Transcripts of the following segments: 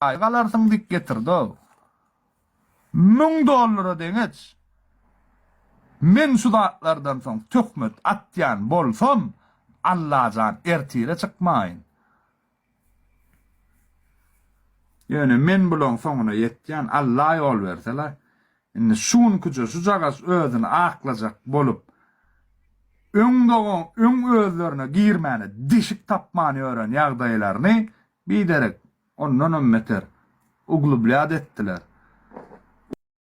Aý galarsyň dik getirdow. Müň dollara deňeç. Men şu zatlardan soň töhmet atýan bolsam Allajan ertire çykmaýyn. Ýöne men bulaň soňuna ýetýän Alla ýol bersela. Indi şu günküje şujagaz özüni aklajak bolup öň dogan öň özlerine girmäne deşik tapman ýören ýagdaýlaryny Biderek, ondanam beter, uglubljad etdiler.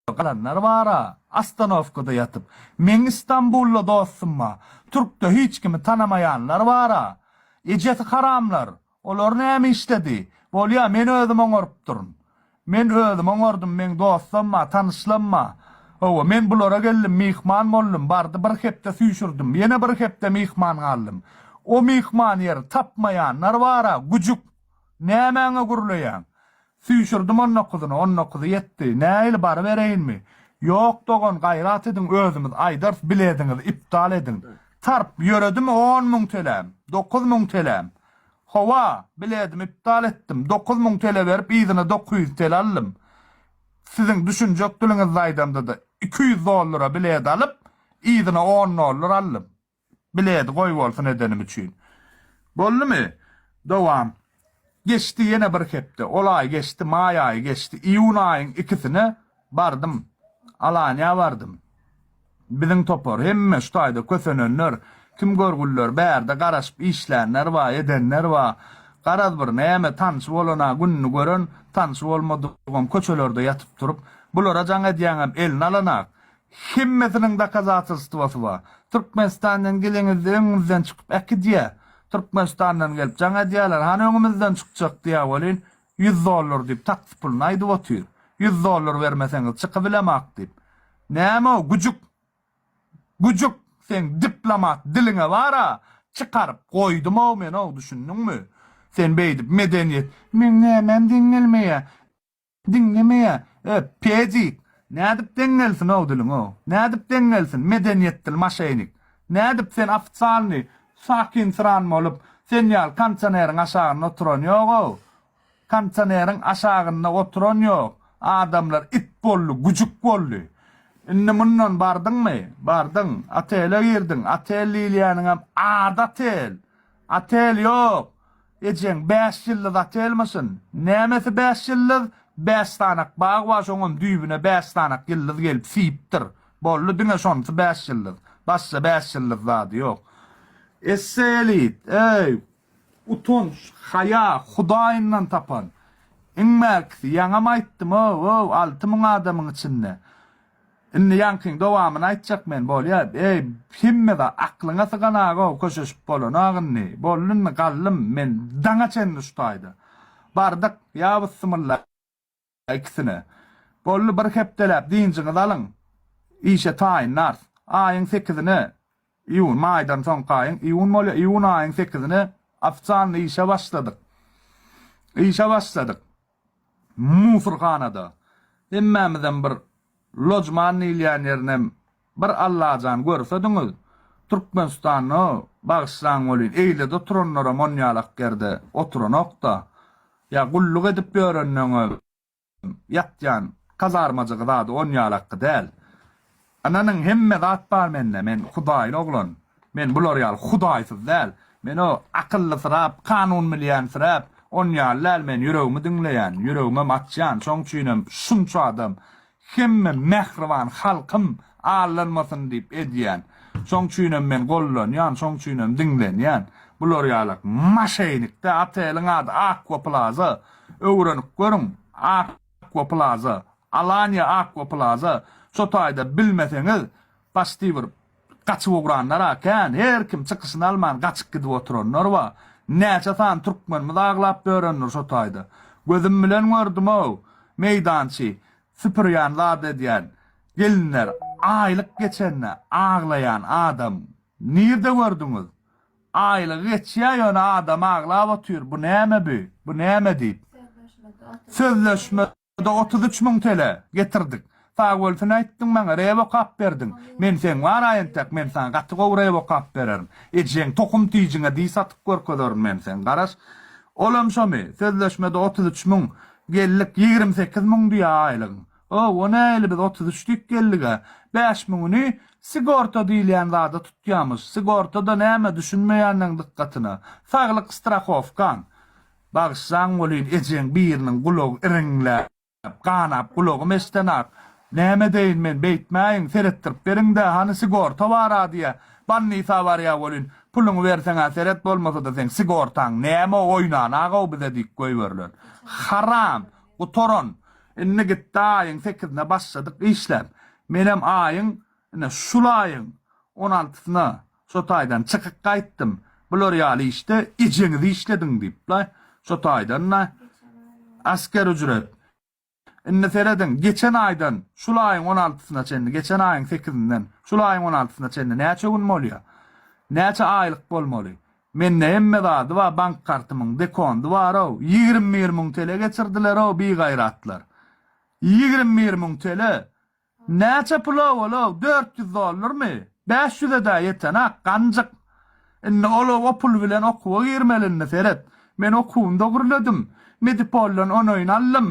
Uglubljad galanlar bar-a, ostanowkada ýatyp. Meň Stambully dostum ba, türkde hiç kimi tanamaýanlar bar-a. Ejesi haramlar, olar näme işledi? Bolýa, men özüm oňarypdyryn. Men özüm oňardym, meň dostam-a, tanyşlam-a. Hawa, men bulara geldim, myhman boldum, bardy bir hepde süýşürdim, ýene bir hepde myhman galdym. O myhman ýer tapmaýanlar bar-a, güjük! Nämäňe gürleýäň? Süýşürdim on dokuzyny, on dokuzy ýetdi. Nähili, barybereýinmi? Ýok, dogan, gaýrat ediň, özümiz aýdarys, bilediňizi iptal ediň. Tarp, ýöredimi on müň teläm, dokuz müň teläm? Hawa, biledim iptal etdim. Dokuz müň tele berip yzyna dokuz ýüz tele aldym. Siziň düşünjek diliňizde aýdamda-da, iki ýüz dollara bilet alyp, yzyna on dollar aldym. Bileti goýbolsun edenim üçin. Boldumy? Dowam. Geçdi ýene bir hepde. Ol aý geçdi, maý aýy geçdi. Iýun aýyň ikisine bardym. Alaniýa bardym. Biziň topar, hemme şu taýda kösenenler, kim görgüliler, bärde garaşyp işlänler bar, edenler bar. Garaz bir näme, tanşy bolan-a gününi gören, tanşy bolmadygam köçelerde ýatyp-turup, bulara jaň edýäňem eline alan-ak. Hemmesiniň dokazatelstwosy bar. Türkmenistandan gelenizde öňüňizden çykyp äkidýä. Türkmenistandan gelip jaň edýäler, hany öňümizden çykjak diýä welin, Ýüz dollar diýip taksi puluny aýdyp otyr. Ýüz dollar bermeseňiz çykybilemak diýip. Näme-ow, güjük? Güjük, seň diplomat diliňe bar-a! Çykaryp goýdum-ow men-ow, düşündiňmi? Sen beýdip medeniýet. Meň nämäm deňelmeýä, diňlemeýä, e, pedik! Nädip deňelsin-ow diliň-ow? Nädip deňelsin, medeniýetdil maşenik? Nädip sen ofitsialnyý Sakin-syran bolup, sen ýaly kondisioneriň aşagynda oturan ýog-ow. Kondisioneriň aşagynda oturan ýok. Adamlar it boldy, güjük boldy. Indi mundan bardyňmy? Bardyň. Otele girdiň. Otel diýilýäniňem ady otel. Otel ýok. Ejeň bäş ýyldyz otelmişin. Nämesi bäş ýyldyz? Bäş sanak bag bar şoňam düýbüne bäş sanak ýyldyz gelip siýipdir. Boldy diňe şonsy bäş ýyldyz. Başga bäş ýyldyz zady ýok. Esse elit, eý, utanç, haýa, hudaýyndan tapan. Iňmäkisi, ýaňam aýtdym, ow, ow, alty müň adamyň içinde. Indi ýaňkyň dowamyny aýtjak men, bolýa, eý, hemmede aklyňa sygan aga-ow, köşeşip bolanok indi, boldy indi, galdym men daňa çenli şu taýda. Bardyk, ýa byssymylla ikisine. Boldy, bir hepdeläp dynjyňyzy alyň, işe taýynlarys. Aýyň sekizine Iýun, maýdan soňky aýyň iýun bolýar. Iýun aýyň sekizine ofitsialny işe başladyk. Işe başladyk. Musurhanada. Hemmämizem bir lojman diýilýän ýerinem bir Allajan görsediňiz. Türkmenistanda, bagyşlaň welin, eýlede oturanlaram onýalak ýerde oturanok-da. Ýa gulluk edip ýörenden-ä. Ýatýan kazarmajygy zady on ýalakky däl. Ynanyň hemme zat bar mende, men hudaýly oglan. Men bular ýaly hudaýsyz däl. Men o akyllysyrap, kanun bilýänsirap, on ýaly däl men ýüregimi diňleýän, ýüregimem açýan, şoň üçinem şunça adam hemme mähriban halkym allanmasyn diýip edýän. Şoň üçinem men gollanýan, şoň üçinem diňlenýän. Bular ýalak maşeýnikde, oteliň ady Akwa Plaza. Öwrenip görüň, Aqua Plaza, Alanya Aqua Plaza, şo taýda bilmeseňiz, paçti bir gaçyp ugranlar-a kän, her kim çykyşyny alman gaçyp gidip oturanlar bar. Näçe sany türkmenimiz aglap börendir şo taýda. Gözüm bilen gördüm-ow, meýdançy süpürýän zat edýän gelinler aýlyk geçende aglaýan adam nirde gördüňiz? Aýlygy geçýär ýöne adam aglap otyr bu näme bi bu näme diýip. Sözleşmede otuz üç müň tl getirdik. Sagbolsun aýtdyň maňa rep okap berdiň. Men seň bara entek men saňa gaty gowy rep okap bererin. Ejeň tohum tijiňe diý satyp görkezerin men seň garaş. Olam şomy sözleşmede otuz üç müň geldik ýigrimi sekiz müň diýýär aýlygyň. Hawa, nähili biz otuz üç dik geldig-ä? Bäş müňüni sigorta diýilýän zada tutýamyş. Sigorta-da näme, düşünmeýänleň dykgatyna, saglyk strahowkaň. Bagyşlaň welin, ejeň biriniň gulagy iriňläp, ganap, gulagym eşdenak. Näme deýin men, beýtmäýiň, seretdirip beriň-dä, hany sigorta bar-a diýýä. Bannisa barýa welin, puluňy berseň-ä seret, bolmasa-da seň sigortaň näme, oýnan-a-gowy bize diýip goýberiler. Haram! Gutaran! Indi gitdi aýyň sekizine başladyk işläp. Menem aýyň, ine, şul aýyň on altysyna şo taýdan çykyk gaýtdym. Bular ýaly işde ejeňiz işlediň diýip-le, şo taýdan-da asker ücret. Indi serediň, geçen aýdan şul aýyň on altysyna çenli, geçen aýyň sekizinden şul aýyň on altysyna çenli näçe gün bolýar? Näçe aýlyk bolmaly? Mende hemme zady bar bank kartymyň dekondy barow ýigrimi bir müň tele geçirdilerow bigaýratlar ýigrimi bir müň tele näçe pula bolow dört ýüz dollarmy bäş ýüzedä ýetenak ganjyk indi olow o pul bilen okuwa girmeli indi seret men okuwymda gürledim medipoldan onoýn aldym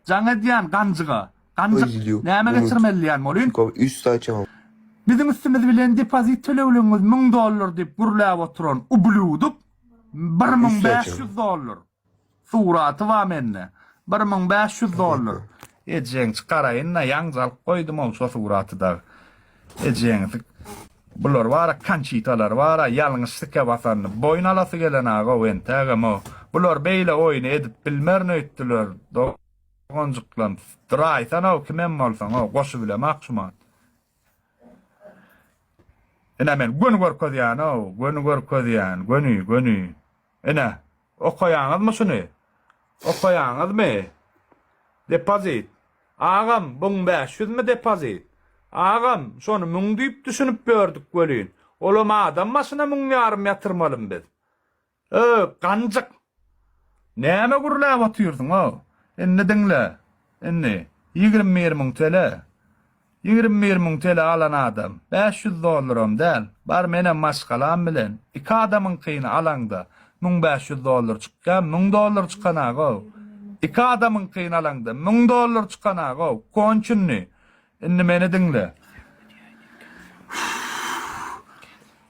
Jaň edýän ganjyga. Ganjyk, näme geçirmeli diýen bolyn. Biziň üstümiz bilen depozit tölegligiňiz müň dollar diýip gürläp oturan ublýuduk bir müň bäş ýüz dollar. Suraty bar mende. Bir müň bäş ýüz dollar. Ejeň çykaraýyn-da, ýaňja alyp goýdum-ow şo suraty dagy. Ejeňiz bular bara kançitalar bara ýalňyş sike basanyny boýun alasy gelen agow entägemo bular beýle oýny edip bilmerin öýtdüler doganjyklam duraýsanow kimem bolsaňow goşubilemak şumat ine men göni görkezýänow göni görkezýän göni göni ine Okaýaňyzmy şuny? Okaýaňyzmy? Depozit. Agam, buň bäş ýüzmi depozit? Agam, şony müň diýip düşünip ýördük welin, olam adam başyna müň ýarym ýatyrmalymy biz? Öý, ganjyk! Näme gürläp otyrsyň-ow? Indi diňle. Indi, ýigrimi bir müň tl. Ýigrimi bir müň tele alan adam, bäş ýüz dollaram däl, bar menem maşgalam bilen, iki adamyňkyny alaňda, müň bäş ýüz dollar çykýa, müň dollar çykanagow. Iki adamyňkyny alaňda, müň dollar çykanagow. Konçunny. Indi meni diňle.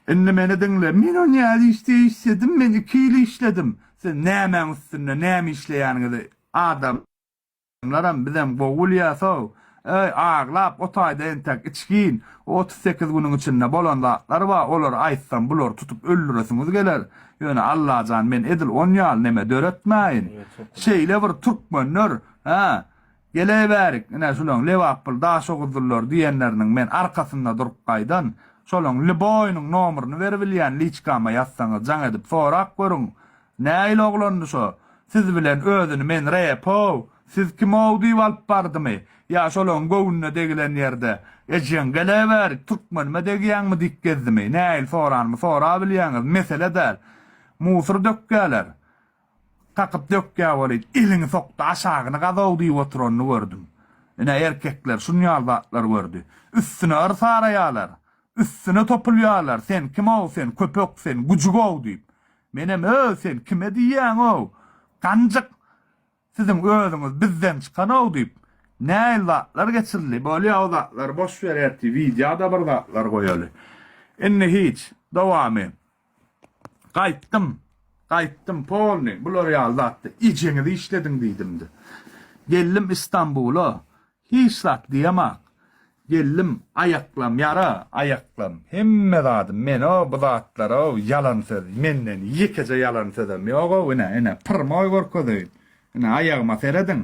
Indi meni diňle. Men o nädip işde işledim? Men iki ýyl işledim. Siz nämäň üstünde, näme işleýäniňizi, adam? Adamlaram bizem gowy gülýäsow. Öý, aglap otaýda entek içgin. Bu otuz sekiz günüň içinde bolan zatlar bar, olary aýtsam bulary tutup öldüresiňiz geler. Ýöne Allajan men edil on ýaly neme döretmäýin. Şeýle bir türkmenler, hä, geleýbärik, ine şulaň Lebaply Daşoguzlylar diýenleriniň men arkasynda durup gaýdan. Şolaň lboýynyň nomeryny beribilýän liçkama ýazsaňyz jaň edip sorap görüň. Näil oglandy şo, siz bilen özüni men Repow, siz kimow diýip alyp bardymy? Ýa şolaň göwnüne degilen ýerde, Ejeň geleberik, türkmenime degýäňmi diýip gezdimi? Näil soranymy sorabilýäňiz, mesele däl. Musur dökýäler. Kakyp dökýä welin, eliňi sok-da aşagyny gazow diýip oturanyny gördüm. Ine, erkekler şunýaly zatlar gördi. Üstüne yr saraýalar. Üstüne topulýalar, sen kimow, sen köpek, sen güjügow diýip. Menem öý sen kime diýýäňow, ganjyk, siziň özüňiz bizden çykanow diýip, näil zatlar geçirildi, bolýa o zatlary boş ber ertir wideoda bir zatlar goýaly. Indi hiç, dowamy. Gaýtdym, gaýtdym, polny, bular ýaly zatda ejeňizi işlediň diýdimdi. Geldim Istanbula, Hiç zat diýemaň. Geldim, aýaklam ýara, aýaklam, hemme zadym men-ow, bu zatlar-ow, ýalan söz, menden ýekeje ýalan sözem ýog-ow, ine, ine, pyrmoý görkezeýin. Ine, aýagyma serediň.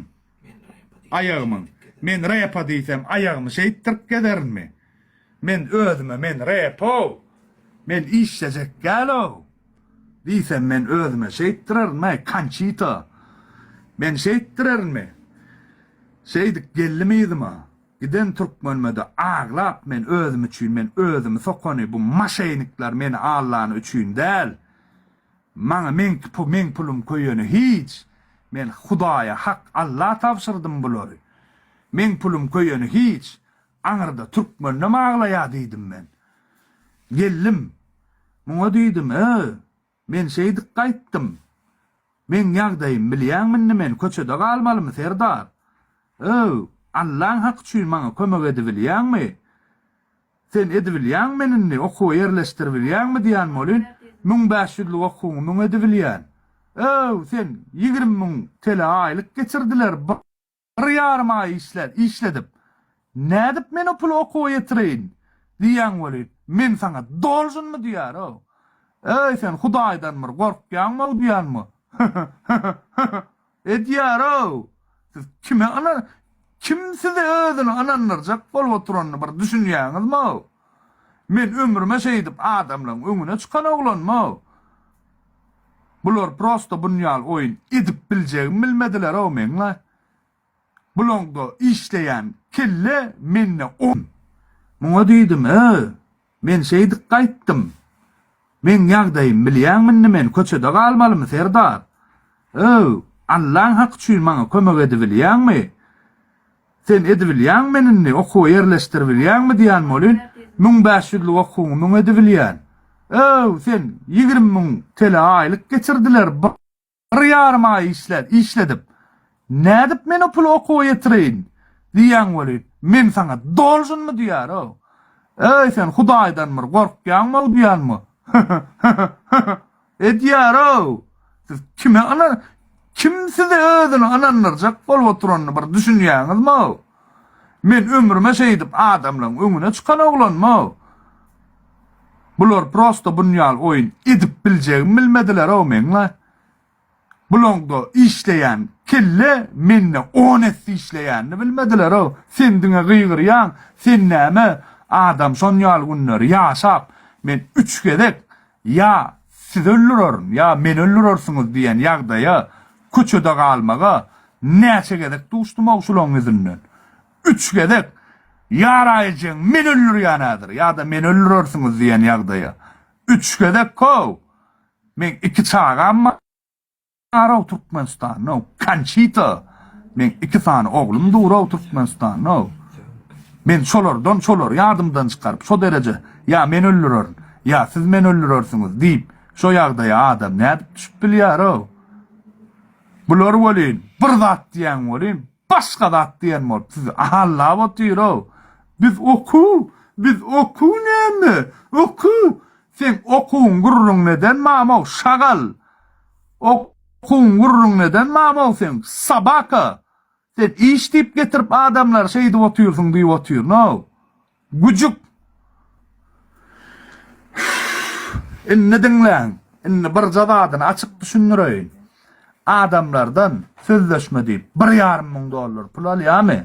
Aýagymyň, men repa diýsem, aýagymy şeýtdirip gezerinmi? Men özüme men repow, men işlejek dälow diýsem men özüme şeýtdirerinmäý kançito. Men şeýtdirerinmi? Şeýdip geldim yzyma. Giden türkmenimede aglap men özüm üçin men özümi sokany bu maşeýnikler meni allany üçin däl. Maňa meňki pul meň pulum köýeni hiç. Men hudaýa hak alla tabşyrdym bulary. Meň pulum köýeni hiç. Aňyrda türkmenem aglaýa diýdim men. Geldim. Muňa diýdim, Ö, men şeýdip gaýtdym. Meň ýagdaýym bilýäňmi indi men köçede galmalymy, serdar? Ö, Allaň haky üçin maňa kömek edibilýäňmi? Sen edibilýäňmi meni indi okuwa ýerleşdiribilýäňmi diýýän welin, müň bäş ýüzlük okuwyňy müň edibilýän. Ö, sen ýigrimi müň tele aýlyk geçirdiler. Bir ýarym aý işläp, işledip, nädip men o puly okuwa ýetireýin? diýýän weli, men saňa dolžynmy diýär-ow. Eý, sen Hudaýdan bir gorkýaňmy-ow diýýänmi? Hä-hä-hä-hä-hä! edýär-ow. Siz kime yna, kim sizi özüne ynandyrjak bolup oturanyny bir düşünýäňizmi-ow? Men ömrüme şeýdip adamlaň öňüne çykan oglanmog. Bular prosta bunýal oýun edip biljegimi bilmedilerow meňle. Bulaňda işleýän kelle mende on. Muňa diýdim, Ö, men şeýdip gaýtdym. Meň ýagdaýymy bilýäňmi indi men köçede galmalymy Serdar? Ö, Allaň haky üçin maňa kömek edibilýäňmi? Sen edibilýäňmi indi, okuwa ýerleşdiribilýäňmi diýen welin, müň bäş ýüzlük okuwyňy müň edibilýän. Öw, sen, ýigrimi müň tele aýlyk geçirdiler, bir ýarym aý işle, işledip, nädip men o puly okuwa ýetireýin diýýäň welin, men saňa dolžynmy diýýär-ow. Öý, sen Hudaýdan bir gorkýaňm-ow diýýänmi? Hü-hü, hü-hü, hü-hü, Edýärow! Siz kime yna Kim sizi özüne ynandyrjak bolup oturanyny bir düşünýäňizmow? Men ömrüme şeýdip adamlaň öňüne çykan oglanmow? Bular prosta bunýal oýun edip biljegimi bilmedilerow meňle. Bulaňda işleýän kelle mende on esse işleýänini bilmediler-ow. Sen diňe gygyrýaň, sen näme adam şon ýaly günleri ýaşap, men üç gezek ýa sizi öldürerin, ýa meni öldürersiňiz diýen ýagdaýa, köçede galmaga näçe gezek duşdum-ow şulaň ýüzünden. Üç gezek Ýara ejeň meni öldürýän häzir, ýa-da meni öldürersiňiz diýen ýagdaýa. Üç gezek-ow! Meň iki çagam barow Türkmenistanow Konçito meň iki sany oglum durow Türkmenistanow men şolardan şolary ýadymdan çykaryp şo dereje ýa men öldürerin ýa siz meni öldürersiňiz diýip şo ýagdaýa adam nädip düşüp bilýärow bular welin bir zat diýýän welin başga zat diýen bolup sizi ahallap otyrow biz okuw biz okuw näme okuw Seň okuň gürrüň neden mamow şagal okuň gürrüň neden mamow seň sobaka sen iş diyip getirip adamlary şeýdip otyrsyň diyip otyr no güjük indi diňläň indi birje zadyny açyk düşündireýin adamlardan sözleşme diyip bir ýarym müň dollar pul alýamy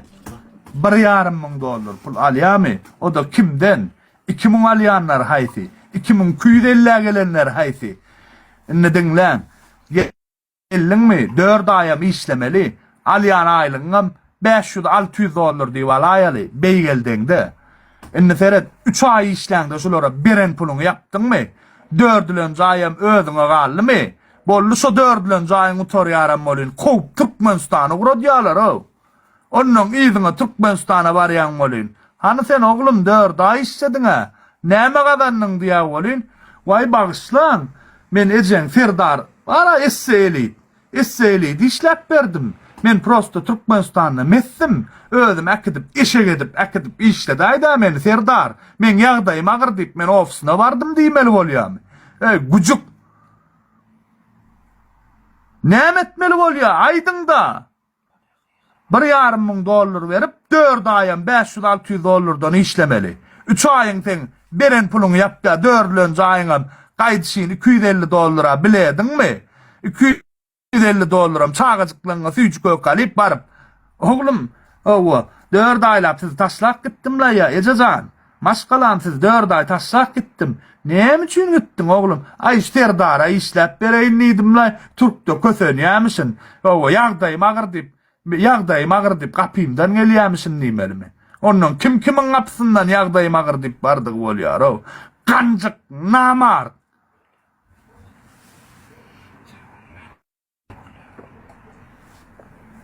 bir ýarym müň dollar pul alýamy oda kimden Iki müň alýanlar haýsy? Iki müň iki ýüz ellä gelenler haýsy? Indi diňläň. Geldiňmi, dört aýam işlemeli. Alýan aýlygyňam bäş ýüz, alty ýüz dollar diýip alaýaly, beýgeldeňde. Indi seret, üç aý işläňde şulara beren puluňy ýapdyňmy? Dördülenji aýam özüňe galdymy? Boldy, şo dördülenji aýyň gutarýaram welin, kowup Türkmenistany ugradýarlar-ow. Onnoň yzyňa Türkmenistana barýan welin, Hany sen, oglum, dört aý işlediň-ä, näme gazandyň? diýä welin, Waý, bagyşlaň, men ejeň Serdar bar-a, esseýelit, esseýeliti işläp berdim. Men prosta Türkmenistanda mesdim, özüm äkidip, eşek edip, äkidip işledäý-dä meni, Serdar, meň ýagdaýym agyr diýip, men ofisyna bardym diýmeli bolýamy? Eý, güjük! Näme etmeli bolýa, aýdyň-da! Bir ýarym müň dollar berip, dört aýam bäş ýüz alty ýüz dollardan işlemeli. Üç aýyň seň beren puluňy ýapýar, dörülen jaýyňam gaýdyşyn iki ýüz elli dollara bilediňmi? Iki ýüz elli dollaram çagajyklaryňa süýji-köke alyp baryp. Oglum, hawa, dört aýlap sizi taşlap gitdim-la ýa, eje jan. Maşgalam siz dört aý taşlap gitdim. Näme üçin gitdiň oglum? Aý şu serdara işläp bereýin diýdimlaý, türkde kösenýämişin. Hawa, ýagdaýym agyr diýip, ýagdaýym agyr diýip gapymdan gelýämişin diýmelimi? Ondan kim kimiň gapysyndan ýagdaýym agyr diýip bardygy bolýar-ow. Ganjyk, namart!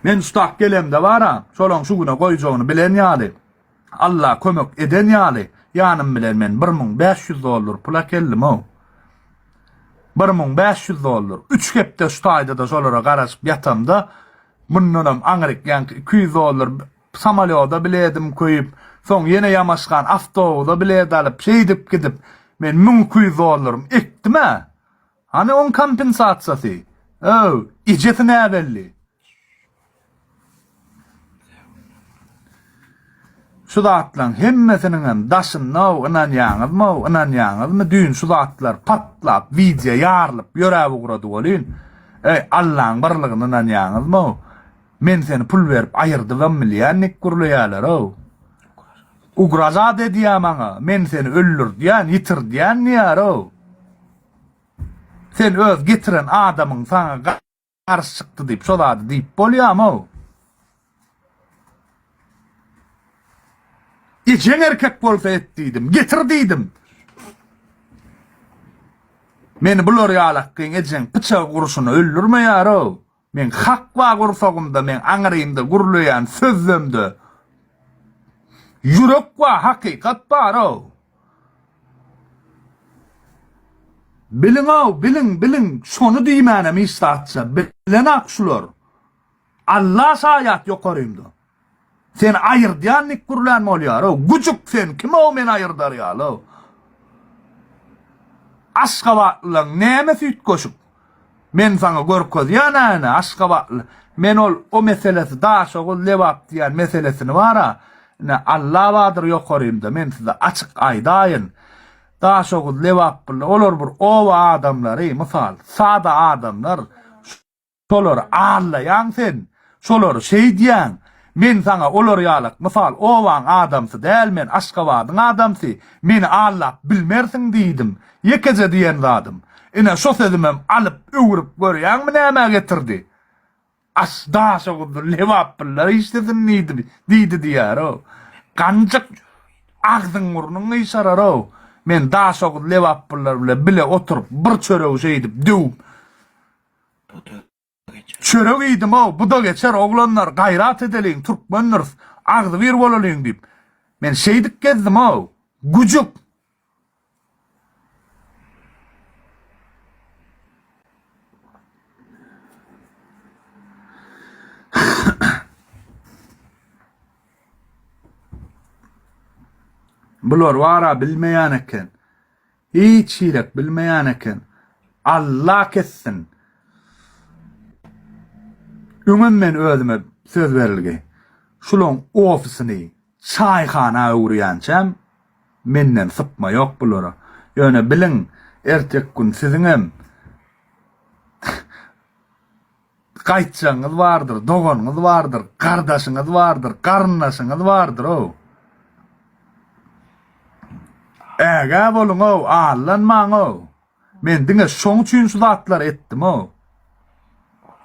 Men şu tak gelemde bar-a, şolaň şu güne goýjagyny bilen ýaly, Alla kömek eden ýaly, ýanym bilen men bir müň bäş ýüz dollar pul äkeldim-ow. Bir müň bäş ýüz dollar. Üç hepde şu taýda-da şolara garaşyp ýatamda, mundanam aňryk ýaňky iki ýüz dollar samolýoda biledim köýüp, soň ýene ýamaşgan awtobusa bilet alyp, şeýdip gidip, men müň iki ýüz dollarymy ekdim-ä. Hany oň kompensasiýasy? Öw, ejesi näbelli. Şu zatlaň hemmesiniňem daşynda-ow ynanýaňyzmy-ow, ynanýaňyzmy, düýn şu zatlar patlap, wideo ýarylyp ýöräp ugrady welin, eý, Allaň barlygyna ynanýaňyzmy-ow? Men seni pul berip aýyrdybam bilýän nik gürleýäler-ow. Ugraža dedýär maňa, men seni öldürdýän, ýitirdýän diýýär-ow. Sen öz getiren adamyň saňa garşy çykdy diýip şo zady diýip bolýamow. Ejeň erkek bolsa et diýdim, getir diýdim. Meni bular ýalakgyň ejeň pyçak uruşyna öldürmeýär-ow. Meň hak bar gursagymda, meň aňyrymda gürleýän sözlemde ýürek bar, hakykat bar-ow! Biliň-ow, biliň, biliň, şony diýmänem hiç zatça, bilen-ak şular! Alla şaýat ýokarymda! Seni aýyrdýan nik gürlän bolýarow. Güjük sen kimow meni aýyrdar ýalow. Aşgabatlylaň näme süýtgeşik. Men saňa görkezýän äne aşgabatly. Men ol o meselesi Daşoguz Lebap diýän meselesini bara ine Allabadyr ýokarymda men size açyk aýdaýyn. Daşoguz Lebap billa olar bir oba adamlary mysal sada adamlar. Şolary allaýaň sen, şolary şeýdýäň. Men saňa olar ýalak mysal obaň adamsy däl men Aşgabadyň adamsy, meni allap bilmersiň diýdim. Ýekeje diýen zadym. Ine şo sözümem alyp öwrüp görýäňmi nämä getirdi. Aş daşa guzdy Lebap pullar işlesin diýdi diýdi diýýär-ow. Ganjyk agzyň burnuň gyşarar-ow. Men daşoguz Lebap pullar bilen bile oturyp bir çöregi şeýdip döwüp. Çörek iýdim-ow, bu-da geçer, oglanlar, gaýrat edeliň, türkmendiris, agzybir bolalyň diýip, men şeýdip gezdim-ow, güjük! Bular bar-a, bilmeýän eken. Hiç hilet bilmeyan eken. Alla kessin. Öňem men özüme söz berilgi. Şulaň ofisini çaýhana öwürýänçäm menden sypma ýok bulara. Ýöne biliň ertek gün siziňem Gaýtjagyňyz bardyr, doganyňyz bardyr, gardaşyňyz bardyr, garyndaşyňyz bardyr-ow. Ägä boluň-ow, allanmaň-ow. Men diňe şoň üçin şu zatlary etdim-ow.